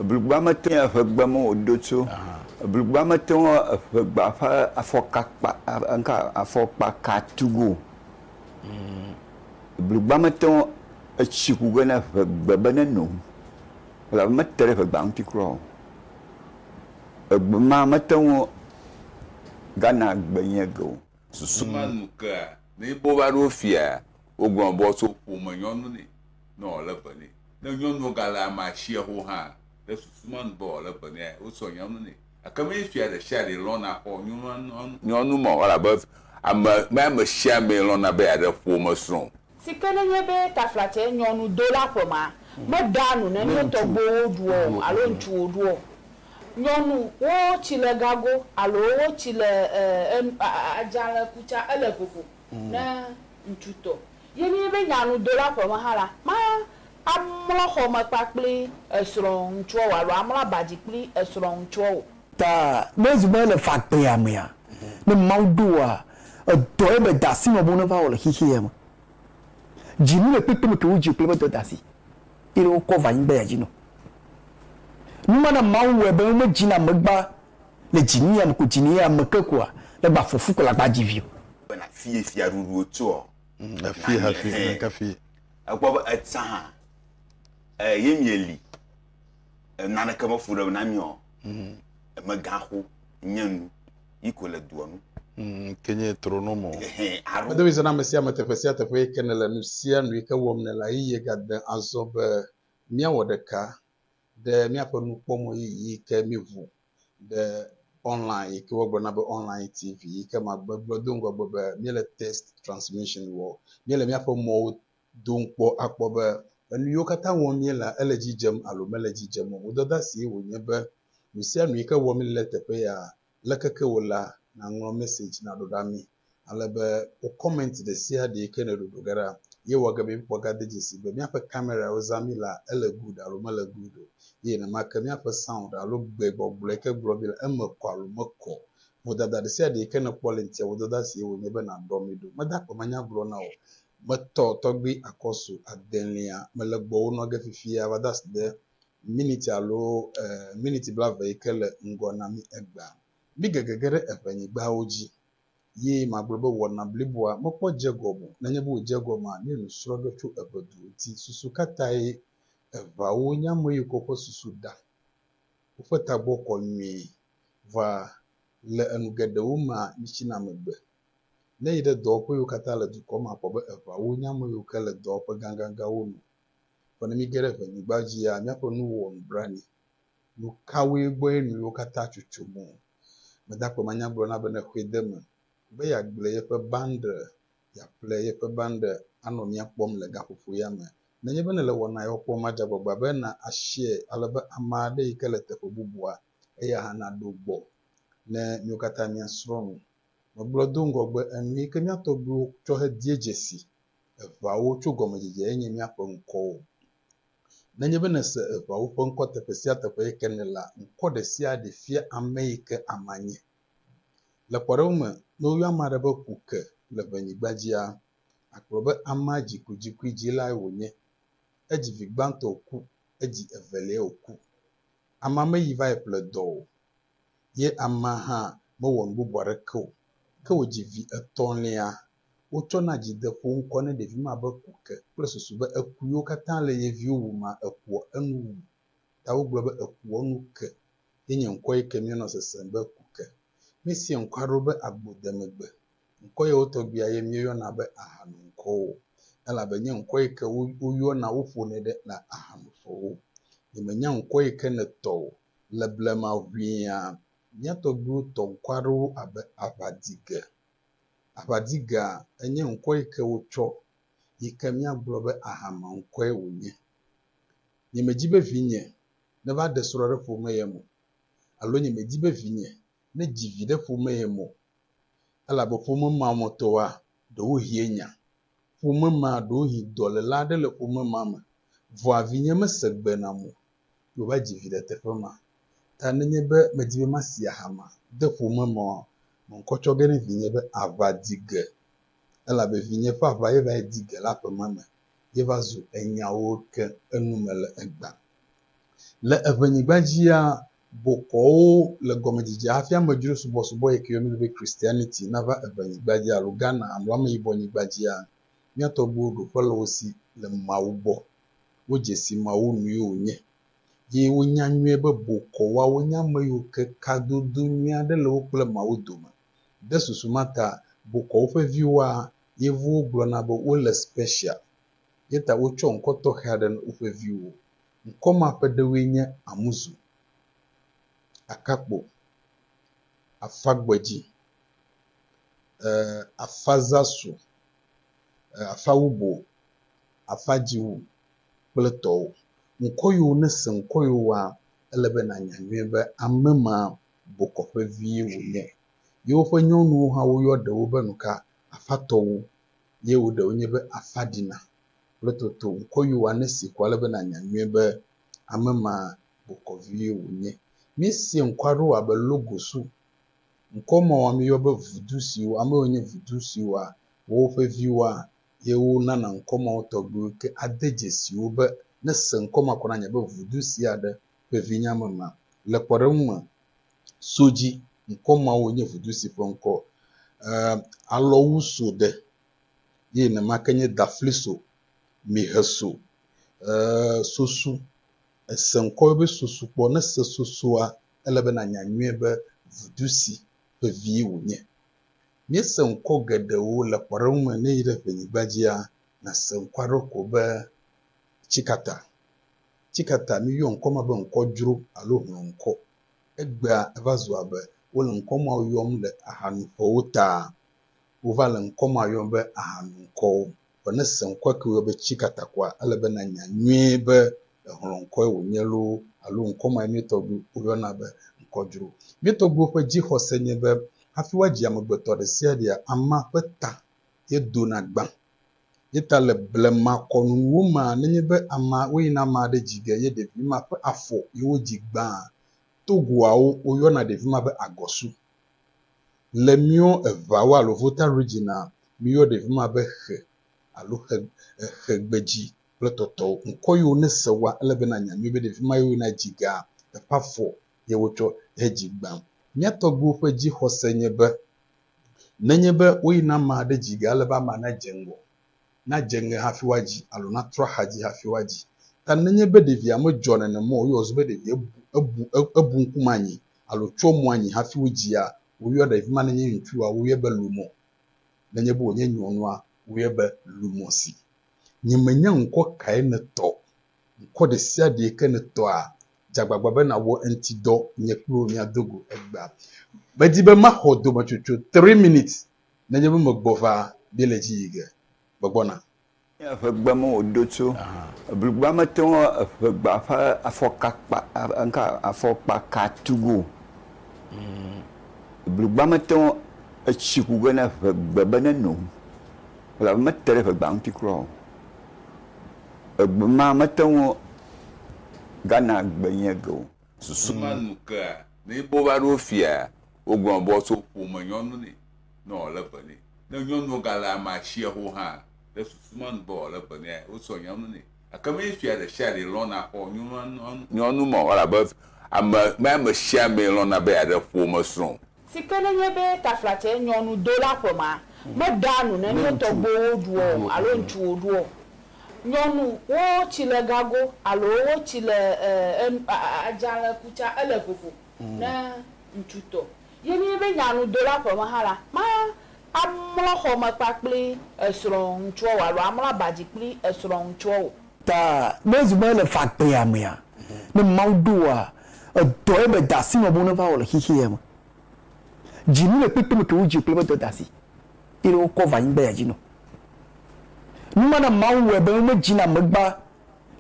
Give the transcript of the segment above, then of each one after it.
Ebligbea mete ŋu eƒe gbe me wòdo tso. Ebligbea mete ŋu eƒe gbea ƒe afɔkakpa, ŋka, afɔkpaka tu ge o. Ebligbea mete ŋu etsi ku ge na eƒe gbe be neno o, elabe mete ɖe eƒe gbea ŋuti kura o. Egbe ma mete ŋu gana gbe nyuie ge o. Susu ma nu kea, ne yi be wova ɖo fiaa, wogblɔna be woatso ƒome nyɔnu nɛ. ne wòalé be nɛ. Ne nyɔnua gale amea sia ho hã, ɖe susu menu be wòalé be nɛa, wosɔ nyɔnu nɛ. Gake menye fia ɖe sia ɖee lɔ̃na xɔ nyɔnu ma o, elabe ame, menye ame sia amee lɔ̃na be yeaɖe ƒomesrɔ̃ o. Si ke nenye be taflatse nyɔnudola ƒe ma meɖea nu ne ne tɔgbuiwo ɖuɔ o alo ŋutsuwo ɖuɔ o. Nyɔnu, wo tsi le gago alo wo tsi le e, e, adzalẽ ku tsa, ele vovo. ne ŋutsu tɔ ye nye be nyanudola ƒe me hã la, mamlɔ xɔ me kpakple esrɔ̃ŋutsuawo alo amlɔ aba dzi kple esrɔ̃ŋutsuawo o. Ta ne ezu be le ƒagbea mea, ne Mawu ɖo wòa, edɔ ye be dasi nɔ bo ne va wɔ le xexeɛ me. Dzi nu le kpekpe me ke wo dzi o kple be dɔ dasi ye ne wo kɔ va anyigba ya dzi nɔ. Numa na Mawu wɔe be wo me dzi na megba Le dzinye ame ko dzinye ame ke koa ne gba fɔfu ko la gba dzi vi o. Be na fie fia ɖuɖuwo tso ɔ. Na fie ha fie na ka fie. Ekpɔ be etsa hã e ye mi eli e nane ke me fu ɖe na mi ɔ. Eme gã xo nye nu yi ko le duɔ nu. Ke nye tro no mo. Aro. Edo mi se na ame sia ame teƒe sia teƒe yi ke ne le nu sia nu yi ke wɔm ne la yi ye ga de azɔ be mia wɔ ɖeka Ɖe míaƒe nukpɔmɔ yiyi ke míʋu ɖe online yi ke wogblɔna be online TV yi ke ma gbegblɔ do ŋgɔgbe be míele test transmission wɔ. Míele míaƒe mɔwo dom kpɔ akpɔ be enu yiwo katã wɔm míelea ele edzi dzem alo mele edzi dzem o. Vodada sie wònye be nu sia nu yi ke wɔm míele ɖe teƒe ya Le keke wò la, naŋlɔ message naɖo ɖa mi. Ale be wò comment ɖe sia ɖe yi ke nèɖo ɖo ge ɖa. Ye wɔ ge be míkpɔ gade dzesi be míaƒe camerawo zã mí la, ele good alo mele good o. Ye nenema ke míaƒe sound alo gbe gbɔgblɔ yi ke gblɔ mí le, eme kɔ alo mekɔ o. Vodada ɖe sia ɖe yi ke nèkpɔ le ŋutia, vodada sie wònye be nàɖɔ mí ɖo. Meda akpe manya gblɔ na wò. Metɔ tɔgbui Akɔsu adelia. Mele gbɔwò nɔ ge fifia. Va de asi ɖe. miniti alo e, miniti blave yi ke le ŋgɔ na mí egbea, mí gege ge ɖe eŋenyigbawo dzi. Ye magblɔ be wɔna bliboa mekpɔ dze gɔme o. Nenye be wòdze gɔmea, míele nu srɔ̃ ge tso eŋe du ŋuti. Susu ka tae eŋeawo nye ame yiwo ke woƒe susu ɖa, woƒe tagbɔ kɔ nyuie. Vɔa, le enu geɖewo mea, mítsina megbe. Ne èyi ɖe dɔwɔƒe yiwo katã le dukɔ mea, àkpɔ be eŋeawo nye ame yiwo ke le dɔwɔƒe gãgãgãwo me. Vɔ ne míge ɖe ŋenyigba dzia, míaƒe nuwo wɔ nublanui. Nu kawoe gbɔe nu yewo katã tso tso mɔ? Medakpɔ manyagblɔna bene xoe de eme be yeagblẽ yeƒe bande, yeaƒle yeƒe bande anɔ mía kpɔm le gaƒoƒo ya me. Nenye be nèle wɔna yawo kpɔm ma, dze agbagba be na aseɛ ale be ame aɖe yi ke le teƒe bubua, eya hã naɖo gbɔ ne míwo katã míasrɔ̃ nu. Megblɔ do ŋgɔgbe enu yi ke mía tɔgbuiwo tsɔ hedie dzesi Eŋeawo tso gɔmedzedzee nye míaƒe ŋkɔwo. Nenye be nèse eŋeawo ƒe ŋkɔ teƒe sia teƒe yi ke nèlea, ŋkɔ ɖe sia ɖe fia ame yi ke amea nye. Le kpɔɖeŋu me, ne woyɔ ame aɖe be Kuke le ʋenyigba dzia, akplɔ be amea dzikudzikui dzilae wònye. Edzi vi gbãtɔ wòku, edzi eveliae wòku. Amea meyi va yi ƒle dɔ o ye amea hã mewɔ nu bubu aɖeke o. Ke wòdzi vi etɔ̃lia Wotsɔna dzi de ƒo ŋkɔ ne ɖevi ma be ku ke kple susu be eku yiwo katã le ye viwo wumea ekua enu wu. Ta wogblɔ be ekua nu ke ye nye ŋkɔ yi ke míenɔ sesem be ku ke. Míesea ŋkɔ aɖewo be agbodemegbe. Ŋkɔ yawo tɔgbia ye míeyɔna be ahanoŋkɔwo elabe nye ŋkɔ yi ke woyɔna woƒonɛ ɖe le ahanoƒewo. Nyemenya ŋkɔ yi ke nètɔ o. Le blema ʋĩa, mía tɔgbuiwo tɔ ŋkɔ aɖewo abe Aʋadige, Abadiga enye ŋkɔ yi ke wotsɔ yi ke míagblɔ be ahama ŋkɔe wònye. Nyemedi be vinye neva ɖe srɔ̃ ɖe ƒome yem o alo nyemedi be vinye nedzi vi ɖe ƒome yem o elabe ƒome ma me tɔwoa, ɖewohie nya. Ƒome ma ɖewohĩ dɔléla aɖe le ƒome ma me vɔa vinye mese gbe nam o yewoadzi vi le teƒe ma. Ta nenye be medi be masi aha ma de ƒome me oa, meŋkɔ tsɔ ge ne vinye be aʋa di ge elabe vinye ƒe aʋa ye va yi di ge le aƒe ma me ye va zu enyawo ke enume le egbea. Le eŋenyigba dzia, bokɔwo le gɔmedzedzea hafi amedzro subɔsubɔ yi ke yɔna be Christianity nava eŋenyigba dzi alo Ghana alo ameyibɔnyigba dzia, mía tɔgbuiwo ɖo ƒe le wo si le Mawu gbɔ. Wodze si Mawu nue wònye. Ye wonya nyuie be bokɔ woawo nye ame yiwo ke kadodo nyui aɖe le wo kple Mawu dome. Ɖe susu ma ta, bokɔwo ƒe viwoa, Yevuwo gblɔna be wole special. Ye ta wotsɔ ŋkɔ tɔxɛ aɖe na woƒe viwo. Ŋkɔ ma ƒe ɖewoe nye Amuzu, Akakpo, Afagbedzi, e, Afazasu, e, Afawubo, afa dziwò kple tɔwò. Ŋkɔ yewo nese ŋkɔ yewoa, ele be nànya nyuie be ame ma bokɔƒe vie wònye. Yewoƒe nyɔnuwo hã woyɔ ɖewo be nuka? Afatɔwo, ye wo ɖewo nye be Afaɖina kple Toto. Ŋkɔ yewoa nese ko ale be nànya nyuie be ame ma bokɔ vie wònye. Míese ŋkɔ aɖewo abe Logosu. Ŋkɔ mawoa míyɔ be vudu siwo, ame yiwo nye vudu siwoa, woawoƒe viwoa, ye wonana ŋkɔ mawo tɔgbiwo ke ade dzesi wo be ne se ŋkɔ ma ko nanye be vudu si aɖe ƒe vinya me ma. Le kpɔɖeŋu me, so dzi, ŋkɔ mawo nye vudu si ƒe ŋkɔ e, alɔwu so ɖe, ye nenema ke nye dafli so, mihe so, e, sosu. Ese ŋkɔ yɔ be sosu kpɔ, ne se sosua, ele be nanya nyuie be vudu si ƒe vie wònye. Míese ŋkɔ geɖewo le kpɔɖeŋu me ne yi ɖe ƒenyigba dzia, nàse ŋkɔ aɖewo ko be tsikata. Tsikata, míyɔ ŋkɔ ma be ŋkɔdzro alo hlɔ̃ŋkɔ. Egbea eva zu abe wole ŋkɔ ma yɔm le ahanuƒewo taa. Wova le ŋkɔ ma yɔm be ahanuŋkɔwo. Vɔ ne se ŋkɔe ke wòyɔ be Tsikatakoa, ele be nànya nyuie be ehlɔ̃ ŋkɔe wònye loo alo ŋkɔ mae mía tɔgbuiwo yɔna be ŋkɔdzro. Mía tɔgbuiwo ƒe dzixɔse nye be hafi woadzi amegbetɔ ɖesiaɖea, amea ƒe ta ye dona gbã. Ye ta le blemakɔnunuwo mea, nenye be amea, woyina ame aɖe dzi ge ye ɖevi ma ƒe afɔ ye wodzi gbãa. Togoawo, woyɔna ɖevi ma be agɔsu. Le míwo eŋawo alo Volta Regina míyɔ ɖe fima be xe alo xe exe gbedzi kple tɔtɔwo. Ŋkɔ yiwo ne se wa ele be na nya nyuie be ɖe fima yewo na dzi ga eƒe afɔ ye wotsɔ he dzi gbã. Mía tɔgbuiwo ƒe dzi xɔse nye be nenye be woyi na ma ɖe dzi ga ele be ama na dze ŋgɔ nadze ŋe hafi woadzi alo natrɔ axadzi hafi woadzi. Ta nenye be ɖevia medzɔ nenem o, woyɔ wòzu be ɖevia bu, ebu, ebu ŋkume anyi alo tsyɔ mo anyi hafi wodzia, woyɔa ɖevi ma nenye ŋutsua, woyɔe be lumɔ. Nenye be wònye nyɔnua, woyɔe be lumɔsi. Nyemenya ŋkɔ kae nètɔ o. Ŋkɔ ɖesiaɖee ke nètɔa, dze agbagba be nàwɔ eŋuti dɔ, nye kple wò míado go egbea. Medi be maxɔ dometsotso three minutes Nenye be megbɔ va be le dzi yi ge, megbɔna. Nye eƒegbe me wòdo tso. Eblugba mete ŋu eƒegba ƒe afɔka kpa, ŋka, afɔkpa ka tu ge o. Eblugba mete ŋu etsi ku ge na eƒegbe be neno o, elabe mete ɖe eƒegba ŋuti kura o. Egbe ma mete ŋu gana gbe nye ge o. Susu ma nu kea ne bo va ɖo fia wogblɔ be woatso ƒome nyɔnu nɛ ne wòale eve nɛ. Ne nyɔnuwo gale amea tsia ho hã ɖe susu ma nu be wòale eve nɛ ya wotsɔ nyɔnu nɛ. Gake menye fia ɖe sia ɖe lɔ̃na xɔ nyɔnu ma o elabe ame mea ame sia amee lɔ̃na be yeaɖe ƒomesrɔ̃ o. Si ke nenye be taflatsɛ nyɔnu do la ƒema meɖea nu ne nye tɔgbuiwo ɖuɔ o alo ŋutsuwo ɖuɔ o. Nyɔnu wo tsi le gago alo wo tsi le adzalɛ ku tsa ele vovo ne ŋutsu tɔ. Ye nenye be nyanu do la ƒeme hã la, ma amlɔ xɔme kpakpli esrɔ̃ ŋutsuɔ o alo amlɔ abadzi kpli esrɔ̃ ŋutsuɔ o. Ta ne ezu be ele fagbea mea, ne Mawu ɖo wòa, edɔe be dasi nɔ bo neva wɔ le xexeɛ me. Dzi nu le kpekpe me ke wodzi kple be dɔ dasi ye ɖe wokɔ va anyigba ya dzi nɔ. Nu ma na Mawu wɔe be wome dzi na megba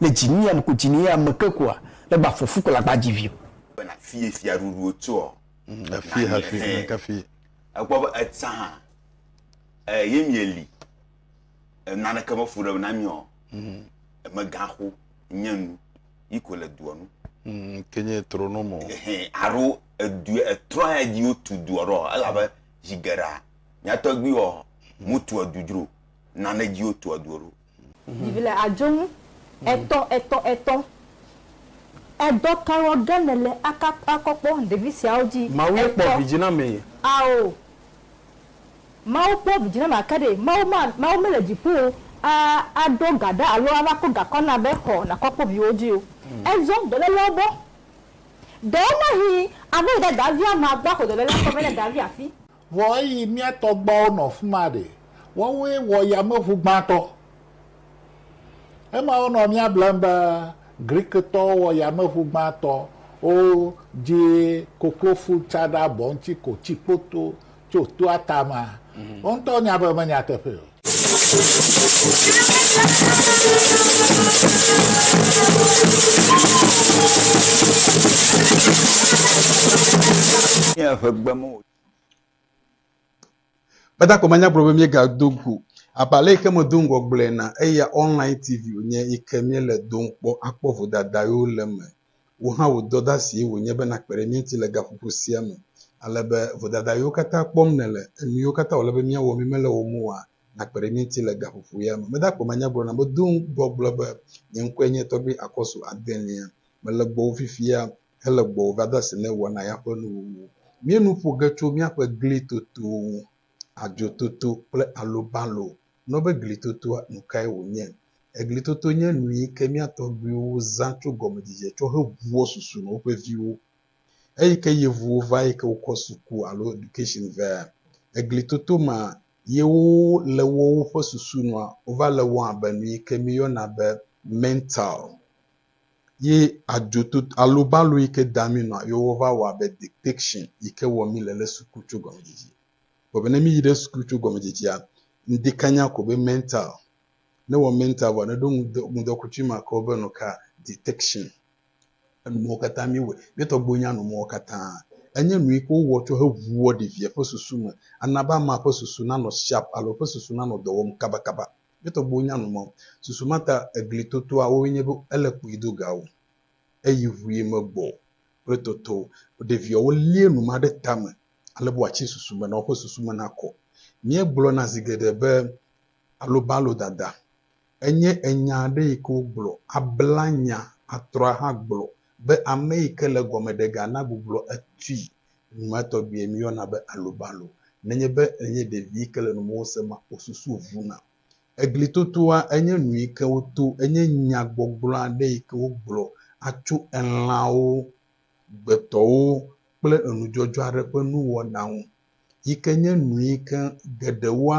le dzi nu ya me ko dzi ne ya me ke koa, le gba fɔfu ko la gba dzi vio. Be na fie fia ɖuɖu wo tsoɔ. Efi hafi, efi. Ekpɔ be etsã hã, e, ye mie li. naneke me fu ɖe na mí ɔ, mm. emegaxo nye nu yi ko le dua nu. Mm, ke nye trɔnɔ mɔ. Aro edu etrɔ ya dzi wotu dua ɖo elabe zi geɖea nyatɔgbi ɔ mutu edu dzro nane dzi wotu edu ɖo. Vivi le adzonu etɔ etɔ etɔ. Edɔ kawo ge ne le aka akɔkpɔ ɖevi siawo dzi? Mawu ye kpɔ vidzi na me. Ao. Mawu kpɔ vidzĩname ake ɖee. Mawu ma, Mawu mele dziƒo o, a, aɖo ga ɖa alo ava kɔ gakɔ na be, Xɔ, nàkɔ kpɔ viwò dzi o. Ezɔ dɔlélea gbɔ. Ɖewomahĩ ava yi ɖe davia mea gbɔ aƒo dɔlélea kɔ vɛ ne davia afi. Vɔ eyi mía tɔgbuawo nɔ fi ma ɖe, woawoe wɔ yameʋu gbãtɔ. Ema wonɔ mía blem be Grikitɔwo wɔ yameʋu gbãtɔ, wo dzi koklofu tsa ɖe abɔ ŋuti ko tsi kpoto. Tso toa tama, wo ŋutɔ nya be menya teƒe o. Nye eƒe gbe me o. Beda ko manya gblɔ be míegado go abale yi ke medo ŋgɔ gblɔe na eya online tv wònye yi ke míele dom kpɔ akpɔ vodada yewo le eme Wò hã wò dɔdasie wònye be nàkpe ɖe mía ŋuti le gaƒoƒo sia me, ale be vodada yiwo katã kpɔm nèle, enu yiwo katã wòle be míawɔ mímele wo ŋu oa, nàkpe ɖe mía ŋuti le gaƒoƒo ya me. Mede akpe manya gblɔna be do ŋgɔ gblɔ be, nye ŋkɔe nye Tɔgbui Akɔsu Adelia. Mele gbɔwò fifia hele gbɔwò va do asi ne wɔna ya ƒe nuwuwu. Míenu ƒo ge tso míaƒe gli totowo ŋu, adzo toto kple alobalo nɔ be glitotoa nu kae wònye. Eglitoto nye nu yi ke mía tɔgbuiwo zã tso gɔmedzedze tsɔ heʋua susu nɔ woƒe viwo. Eyi ke yevuwo va yi ke wokɔ suku alo education vea, eglitoto ma ye wo le wɔ woƒe susu nɔa wova le wɔm abe nu yi ke míyɔna be mental ye adzoto alobalo yi ke da mí nɔa ye wova wɔ abe dictation yi ke wɔ mí le le suku tso gɔmedzedze. Kpɔ be ne mi yi ɖe suklu tso gɔmedzedzea, ŋdi kanya ko be mental. Ne wɔ mental vɔ ne ɖo ŋudɔ ŋudɔkutsui ma ke wobe nu ka detection. Enumɔwo katã mi wɔ. Mi tɔ gbo nya numɔwo katã. Enye nu yi ke wo wɔ tso he ʋuɔ ɖevia ƒe susu me. Ana be ama ƒe susu na nɔ sharp alo eƒe susu na nɔ dɔ wɔm kaba kaba. Mi tɔ gbo nya numɔ. Susu ma ta egli totoa woe nye be ele kpui do ga wo. Eyi ʋui me gbɔ kple toto. Ɖevia wo lie numa ɖe tame. ale be wòatsi susu me na woƒe susu me nakɔ. Míegblɔna zi geɖe be alobalodada enye enya aɖe yi ke wogblɔ abla nya atrɔ ahagblɔ be ame yi ke le gɔme ɖe ga nagbublɔ etui. Numa tɔgbie míeyɔna be alobalo. Nenye be ènye ɖevi yi ke le nu mɔwo sem wò susu vuna. Eglitotoa enye nu yi ke woto, enye nyagbɔgblɔ aɖe yi ke wogblɔ atso elãwo gbetɔwo kple enudzɔdzɔ aɖe ƒe nuwɔna ŋu yi ke nye nu yi ke geɖewoa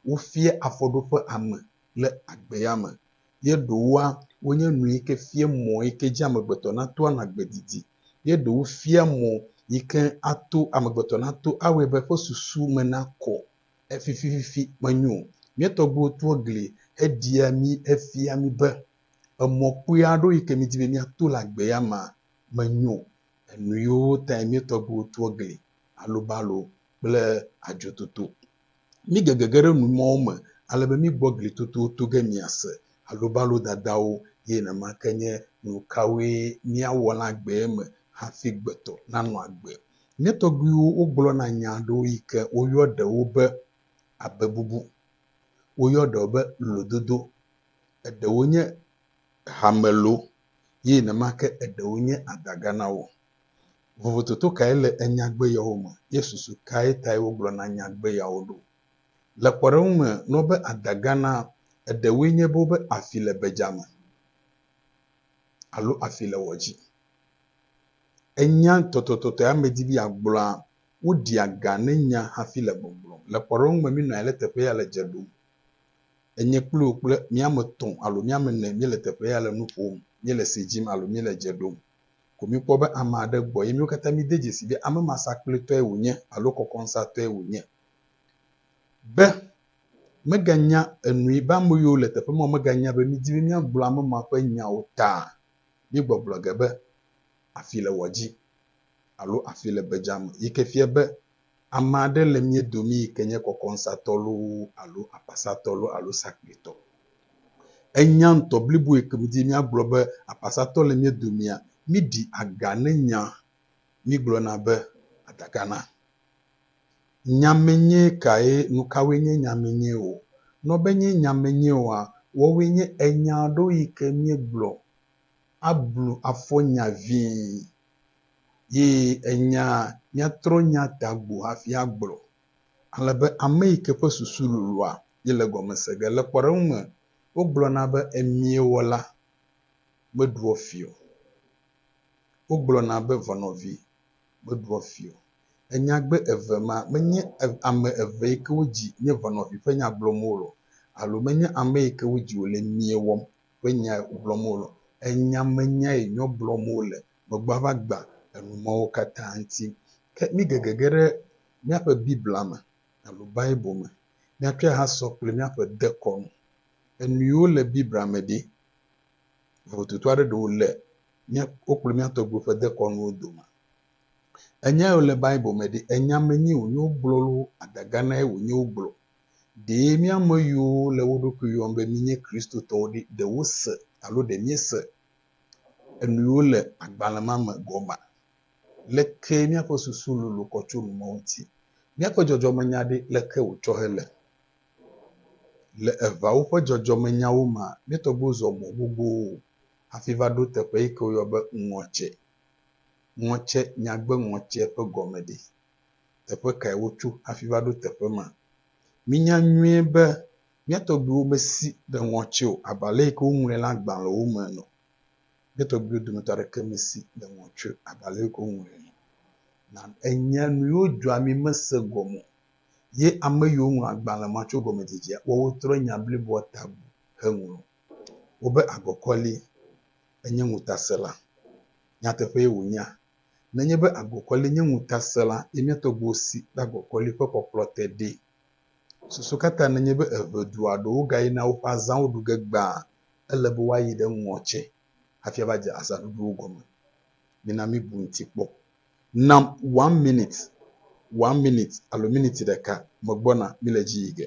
wofia afɔɖoƒe ame le agbea me ye ɖewoa wonye nu yi ke fia mɔ yi ke dzi amegbetɔ nato anɔ agbe didi ye ɖewo fia mɔ yi ke ato amegbetɔ nato awɔe be eƒe susu me nakɔ efifififi menyo o. Mía tɔgbuiwo tua gli heɖia mí hefia mí be emɔ kpui aɖewo yi ke midi be míato le agbe ya mea menyo, enu yiwo tae mía tɔgbuiwo tu egli, alubalo kple adzototo. Mígege ge ɖe nu mawo me ale be mígbɔ glitotowo to ge miase alubalo dadawo eye nenema ke nye nu kawoe míawɔ le agbee me hafi gbetɔ nanɔ agbe. Mía tɔgbuiwo wogblɔna nya aɖewo yi ke woyɔ ɖewo be abebubu, woyɔ ɖewo be lododo, eɖewo nye hame lo ye nenema ke eɖewo nye adaga na wo. Vovototo kae le enyagbe yawo me, ye susu kae tae wogblɔna nyagbe yawo ɖo? Le kpɔɖeŋu me, nɔ be adaga na eɖewoe nye be wobe afi le bedzame alo afi le wɔ dzi. Enya tɔtɔtɔtɔe ame di be yeagblɔa, woɖia ga ne nya hafi le gbɔgblɔm. Le kpɔɖeŋu me, minɔ anyi ɖe teƒe ya le dze ɖom. Enye kpli wò kple mía ame etɔ̃ alo mía ame ene míele teƒe ya le nu ƒom, míele se dzim alo míele dze ɖom. Ko mikpɔ be ame aɖe gbɔ ye míwo katã míde dzesii be ame ma sakplitɔe wònye alo kɔkɔnsatɔe wònye. Be meganya enui be ame yiwo le teƒe ma meganya be midi be míagblɔ ame ma ƒe nya o ta míegbɔgblɔ ge be, Afi le wɔ dzi alo Afi le be dzame, yi ke fia be Ame aɖe le mía domi yi ke nye kɔkɔŋsatɔ loo alo apasatɔ loo alo sakpuitɔ. Enya ŋutɔ blibo yi ke wodi míagblɔ be apasatɔ le mía domia, míɖi aga ne nya mígblɔna be adaga na. Nyamenyɛ kae? Nukawoe nye nyamenyɛ o? Nɔ be nye nyamenyɛ oa, woawoe nye enya aɖewo yi ke míegblɔ ablu afɔ nya vĩi Ye enya míatrɔ nya ta gbo hafi agblɔ. Ale be ame yi ke ƒe susu lolõa ye le gɔme se ge. Le kpɔɖeŋu me, wogblɔna be emie wɔla meɖua fi o. Wogblɔna be ʋɔnɔvi meɖua fi o. Enyagbe eve ma menye ame eve yi ke wodzi nye ʋɔnɔvi ƒe nya gblɔm wole o alo menye ame yi ke wodzi wòle emie wɔm ƒe nya gblɔm wole. Enya me nya ye nyɔ gblɔm wole. Megbɔa va gba enu mawo katã ŋuti. Ke mi gege ge ɖe míaƒe Biblia me alo Bible me. Míatsɔe ha sɔ kple míaƒe dekɔnu. Enuyiwo le Biblia me ɖi? Vovototo aɖe ɖe wole mía wo kple mía tɔgbuiwo ƒe dekɔnuwo dome. Enyayiwo le Bible me ɖi? Enya me nyi wonye wogblɔ lo adaganae wonye wogblɔ? Ɖe mía ame yiwo le wo ɖokui yɔm be míenye Kristotɔwo ɖi, ɖe wose alo ɖe míese enuyiwo le agbalẽ ma me gɔmea? Lekee míaƒe susu lolo kɔ tso nu ma ŋuti? Míaƒe dzɔdzɔmenya ɖe, leke wòtsɔ hele? Le eʋawo ƒe dzɔdzɔmenyawo mea, mía tɔgbuiwo zɔ mɔ gbogbowo hafi va ɖo teƒe yi ke woyɔa be ŋɔtse. Ŋɔtse, nyagbe ŋɔtse ƒe gɔme ɖe? teƒe kae wotso hafi va ɖo teƒe ma. Mínya nyuie be mía tɔgbuiwo mesi ɖe ŋɔtsi o abe ale si ke woŋlɔe le agbalẽwo me ene. Mía tɔgbuiwo dometɔ aɖeke mesi ɖe ŋɔtsi o abe ale si ke woŋlɔe ene. Na enya nu yiwo dzɔa mí mese gɔme o, ye ame yiwo ŋlɔ agbalẽ ma tso gɔmedzedzea woawo trɔ nya bliboa ta bu heŋlɔ wo be agɔkɔli enye ŋutasẽla. Nyateƒee wònyea? Nenye be agokɔli nye ŋutasẽla ye mía tɔgbuiwo si be agokɔli ƒe kpɔkplɔ te ɖee. Susu ka ta nenye be eve du alo wogayina woƒe azãwo ɖu ge gbaa ele be woayi ɖe ŋɔ tsɛ hafi ava dze azãɖuɖuwo gɔme? Mina míbu eŋuti kpɔ. Nam one minute, one minute alo miniti ɖeka megbɔna, míle edzi yi ge.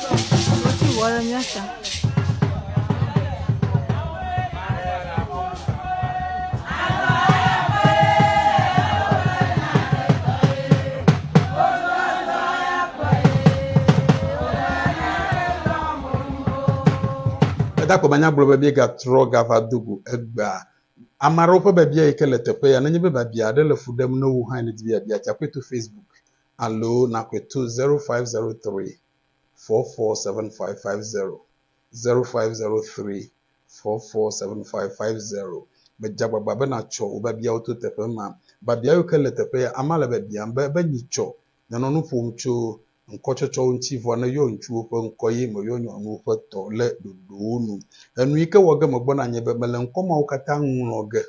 Edakɔ be anya gblɔ be míegatrɔ gava do go egbea. Ame aɖewo ƒe biabia yi ke le teƒe ya, nenye be biabia aɖe le fu ɖem na wò hã eye nèdi be yeabia tsa, kɔe to Facebook alo nakɔe to zero five zero three. four four seven five five zero zero five zero three four four seven five five zero. Medze agbagba be natsɔ wò biabiawo to teƒe ma. Biabia yiwo ke le teƒe ya, amea le biabiam be, be nyi tsɔ? Nɔ nɔ nu ƒom tso ŋkɔtsɔtsɔwo ŋuti vɔ ne yɔ ŋutsuwo ƒe ŋkɔ ye me yɔ nyɔnuwo ƒe tɔ le ɖoɖowo nu. Enu yi ke wɔ ge megbɔ na nye be mele ŋkɔ mawo katã ŋlɔ ge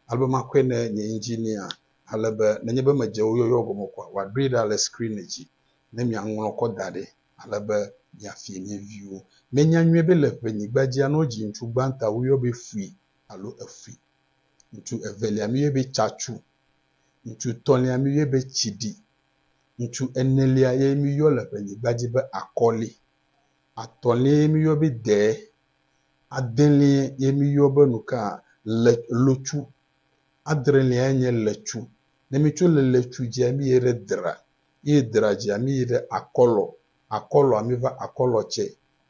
ale be makɔe ne nye engineer ale be nenye be medze wo yɔyɔ gɔme koa wòaɖoe ɖa le screen dzi. ne miaŋlɔ kɔ da ɖi ale be miafie mia viwo. Mienya nyuie be le ƒenyigba dzia, ne wodzi ŋutsu gbãtɔa, woyɔ be fui alo efui. Ŋutsu evelia míyɔe be tsatsu. Ŋutsu etɔ̃lia míyɔe be tsiɖi. Ŋutsu enelia ye míyɔ le ƒenyigba dzi be akɔli. Atɔ̃lia ye míyɔ be dee. Adelia ye míyɔ be nuka? Le, lotsu. Adrelia nye letsu. Ne mitso le letsu dzia, míyie ɖe dra. Yi dra dzi a mi yi ɖe akɔlɔ, akɔlɔ a mi va akɔlɔ tsɛ,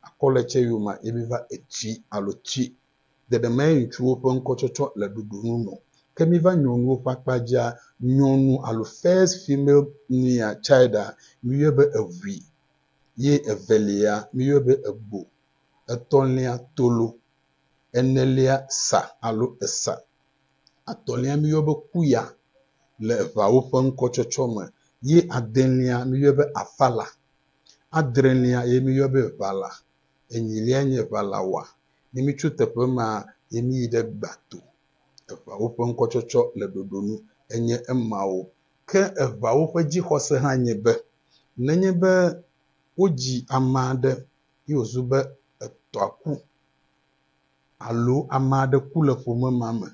akɔlɔ tsɛ yome a yi mi va etui alo tui. Ɖeɖemae ŋutsuwo ƒe ŋkɔtsɔtsɔ le ɖoɖonu nɔ. Ke mi va nyɔnuwo ƒe akpa dzi a, nyɔnu alo first female nea, child a, mi yɔe be eʋui, ye evelia mi yɔe be egbo, etɔlia tolo, enelia sa alo esa, atɔ̃lia míeyɔ be kuya le eŋawo ƒe ŋkɔtsɔtsɔ me ye adelia míeyɔ be afala, adrelia ye míeyɔ be ʋala, enyilia nye ʋalawa. Ne mitso teƒe ma ye miyi ɖe gbato. Eŋawo ƒe ŋkɔtsɔtsɔ le ɖoɖo nu enye emawo. Ke eŋawo ƒe dzixɔse hã nye be nenye be wodzi ame aɖe ye wòzu be etɔa ku alo ame aɖe ku le ƒome ma me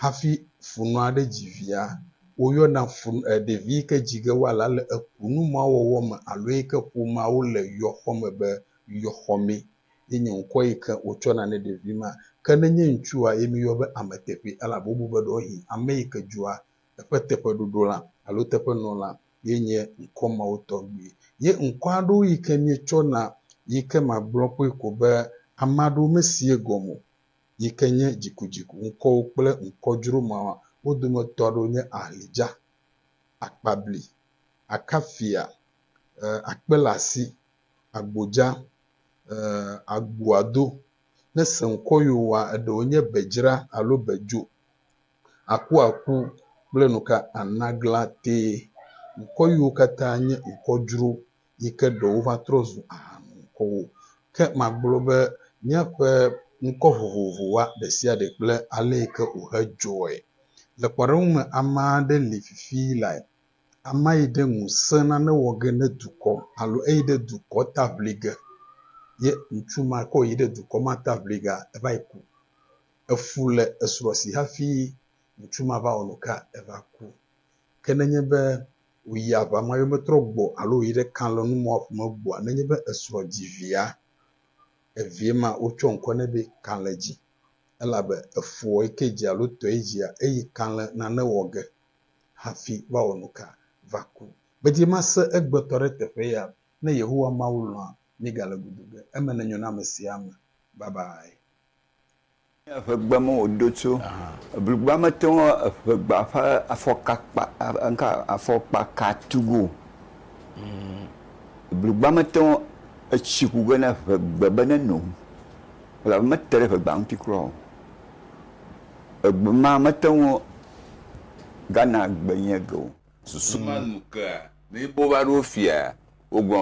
hafi funɔ aɖe dzi via, woyɔna fun, e, ɖevi yi ke dzi ge woala le ekunu ma wɔwɔ me alo yi ke ƒomea wole yɔxɔ me be yɔxɔmee. Ye nye ŋkɔ yi ke wotsɔna ne ɖevi ma. Ke ne nye ŋutsua ye míyɔ be ame teƒee elabe wobu be ɖewohĩ ame yi ke dzɔa eƒe teƒeɖoɖo la alo teƒenɔla ye nye ŋkɔ mawo tɔgbi. Ye ŋkɔ aɖewo yi ke mietsɔ na yi ke magblɔ kpɔe ko be ame aɖewo mesie gɔme o yi ke nye dzikudziku ŋkɔwo kple ŋkɔ dzro mawa. Wo dometɔ aɖewo nye Ahlijah, Akpabli, Akafia, e, Akpelasi, Agbodza, e, Agboado. Ne seŋkɔ yiwo wa, eɖewo nye Bedzra alo Bedzo. akuaku kple nu ka ana glã tee. Ŋkɔ yiwo katã nye ŋkɔ dzro yi ke ɖewo va trɔ zu ahanuŋkɔwo. Ke magblɔ be míaƒe ŋkɔ vovovowoa ɖe sia ɖe kple ale yi ke wòhe dzɔe. Le kpɔɖeŋu me, ame aɖe li fifii lae. Amea yi ɖe ŋusẽ nane wɔ ge ne dukɔ alo eyi ɖe dukɔ ta ŋli ge. Ye ŋutsu ma ke wòyi ɖe dukɔ ma ta ŋli gea, eva yi ku. Efu le esrɔ̃ si hafi ŋutsu ma va wɔ nu ka eva ku. Ke nenye be wòyi aʋa me hafi metrɔ gbɔ o alo wòyi ɖe kalẽnumɔ̃a ƒo me gbɔa, nenye be esrɔ̃ dzi via, evia ma wotsɔ ŋkɔ nɛ be kalẽ dzi, elabe efuɔ yi ke dzi alo tɔe dzia, eye kalẽ nane wɔ ge hafi va wɔ nu ka va ku. Gbedzi mase egbetɔ ɖe teƒe ya. Ne Yehowa Mawu lɔ̃a, míegale gudu ge. Eme nenyo na amesia ame. Babae. Nye eŋegbe me wòdo tso. Eblugba mete ŋu eŋegba ƒe afɔka kpa, ŋka, afɔkpa ka tu ge o. Eblugba mete ŋu etsi ku ge na eŋegbe be ne no. Elabe mete ɖe eŋegba ŋuti kura o. Egbe ma mete ŋu gana gbe nye ge o. Susu ma nu kea, ne míbova ɖo fia, wogblɔ.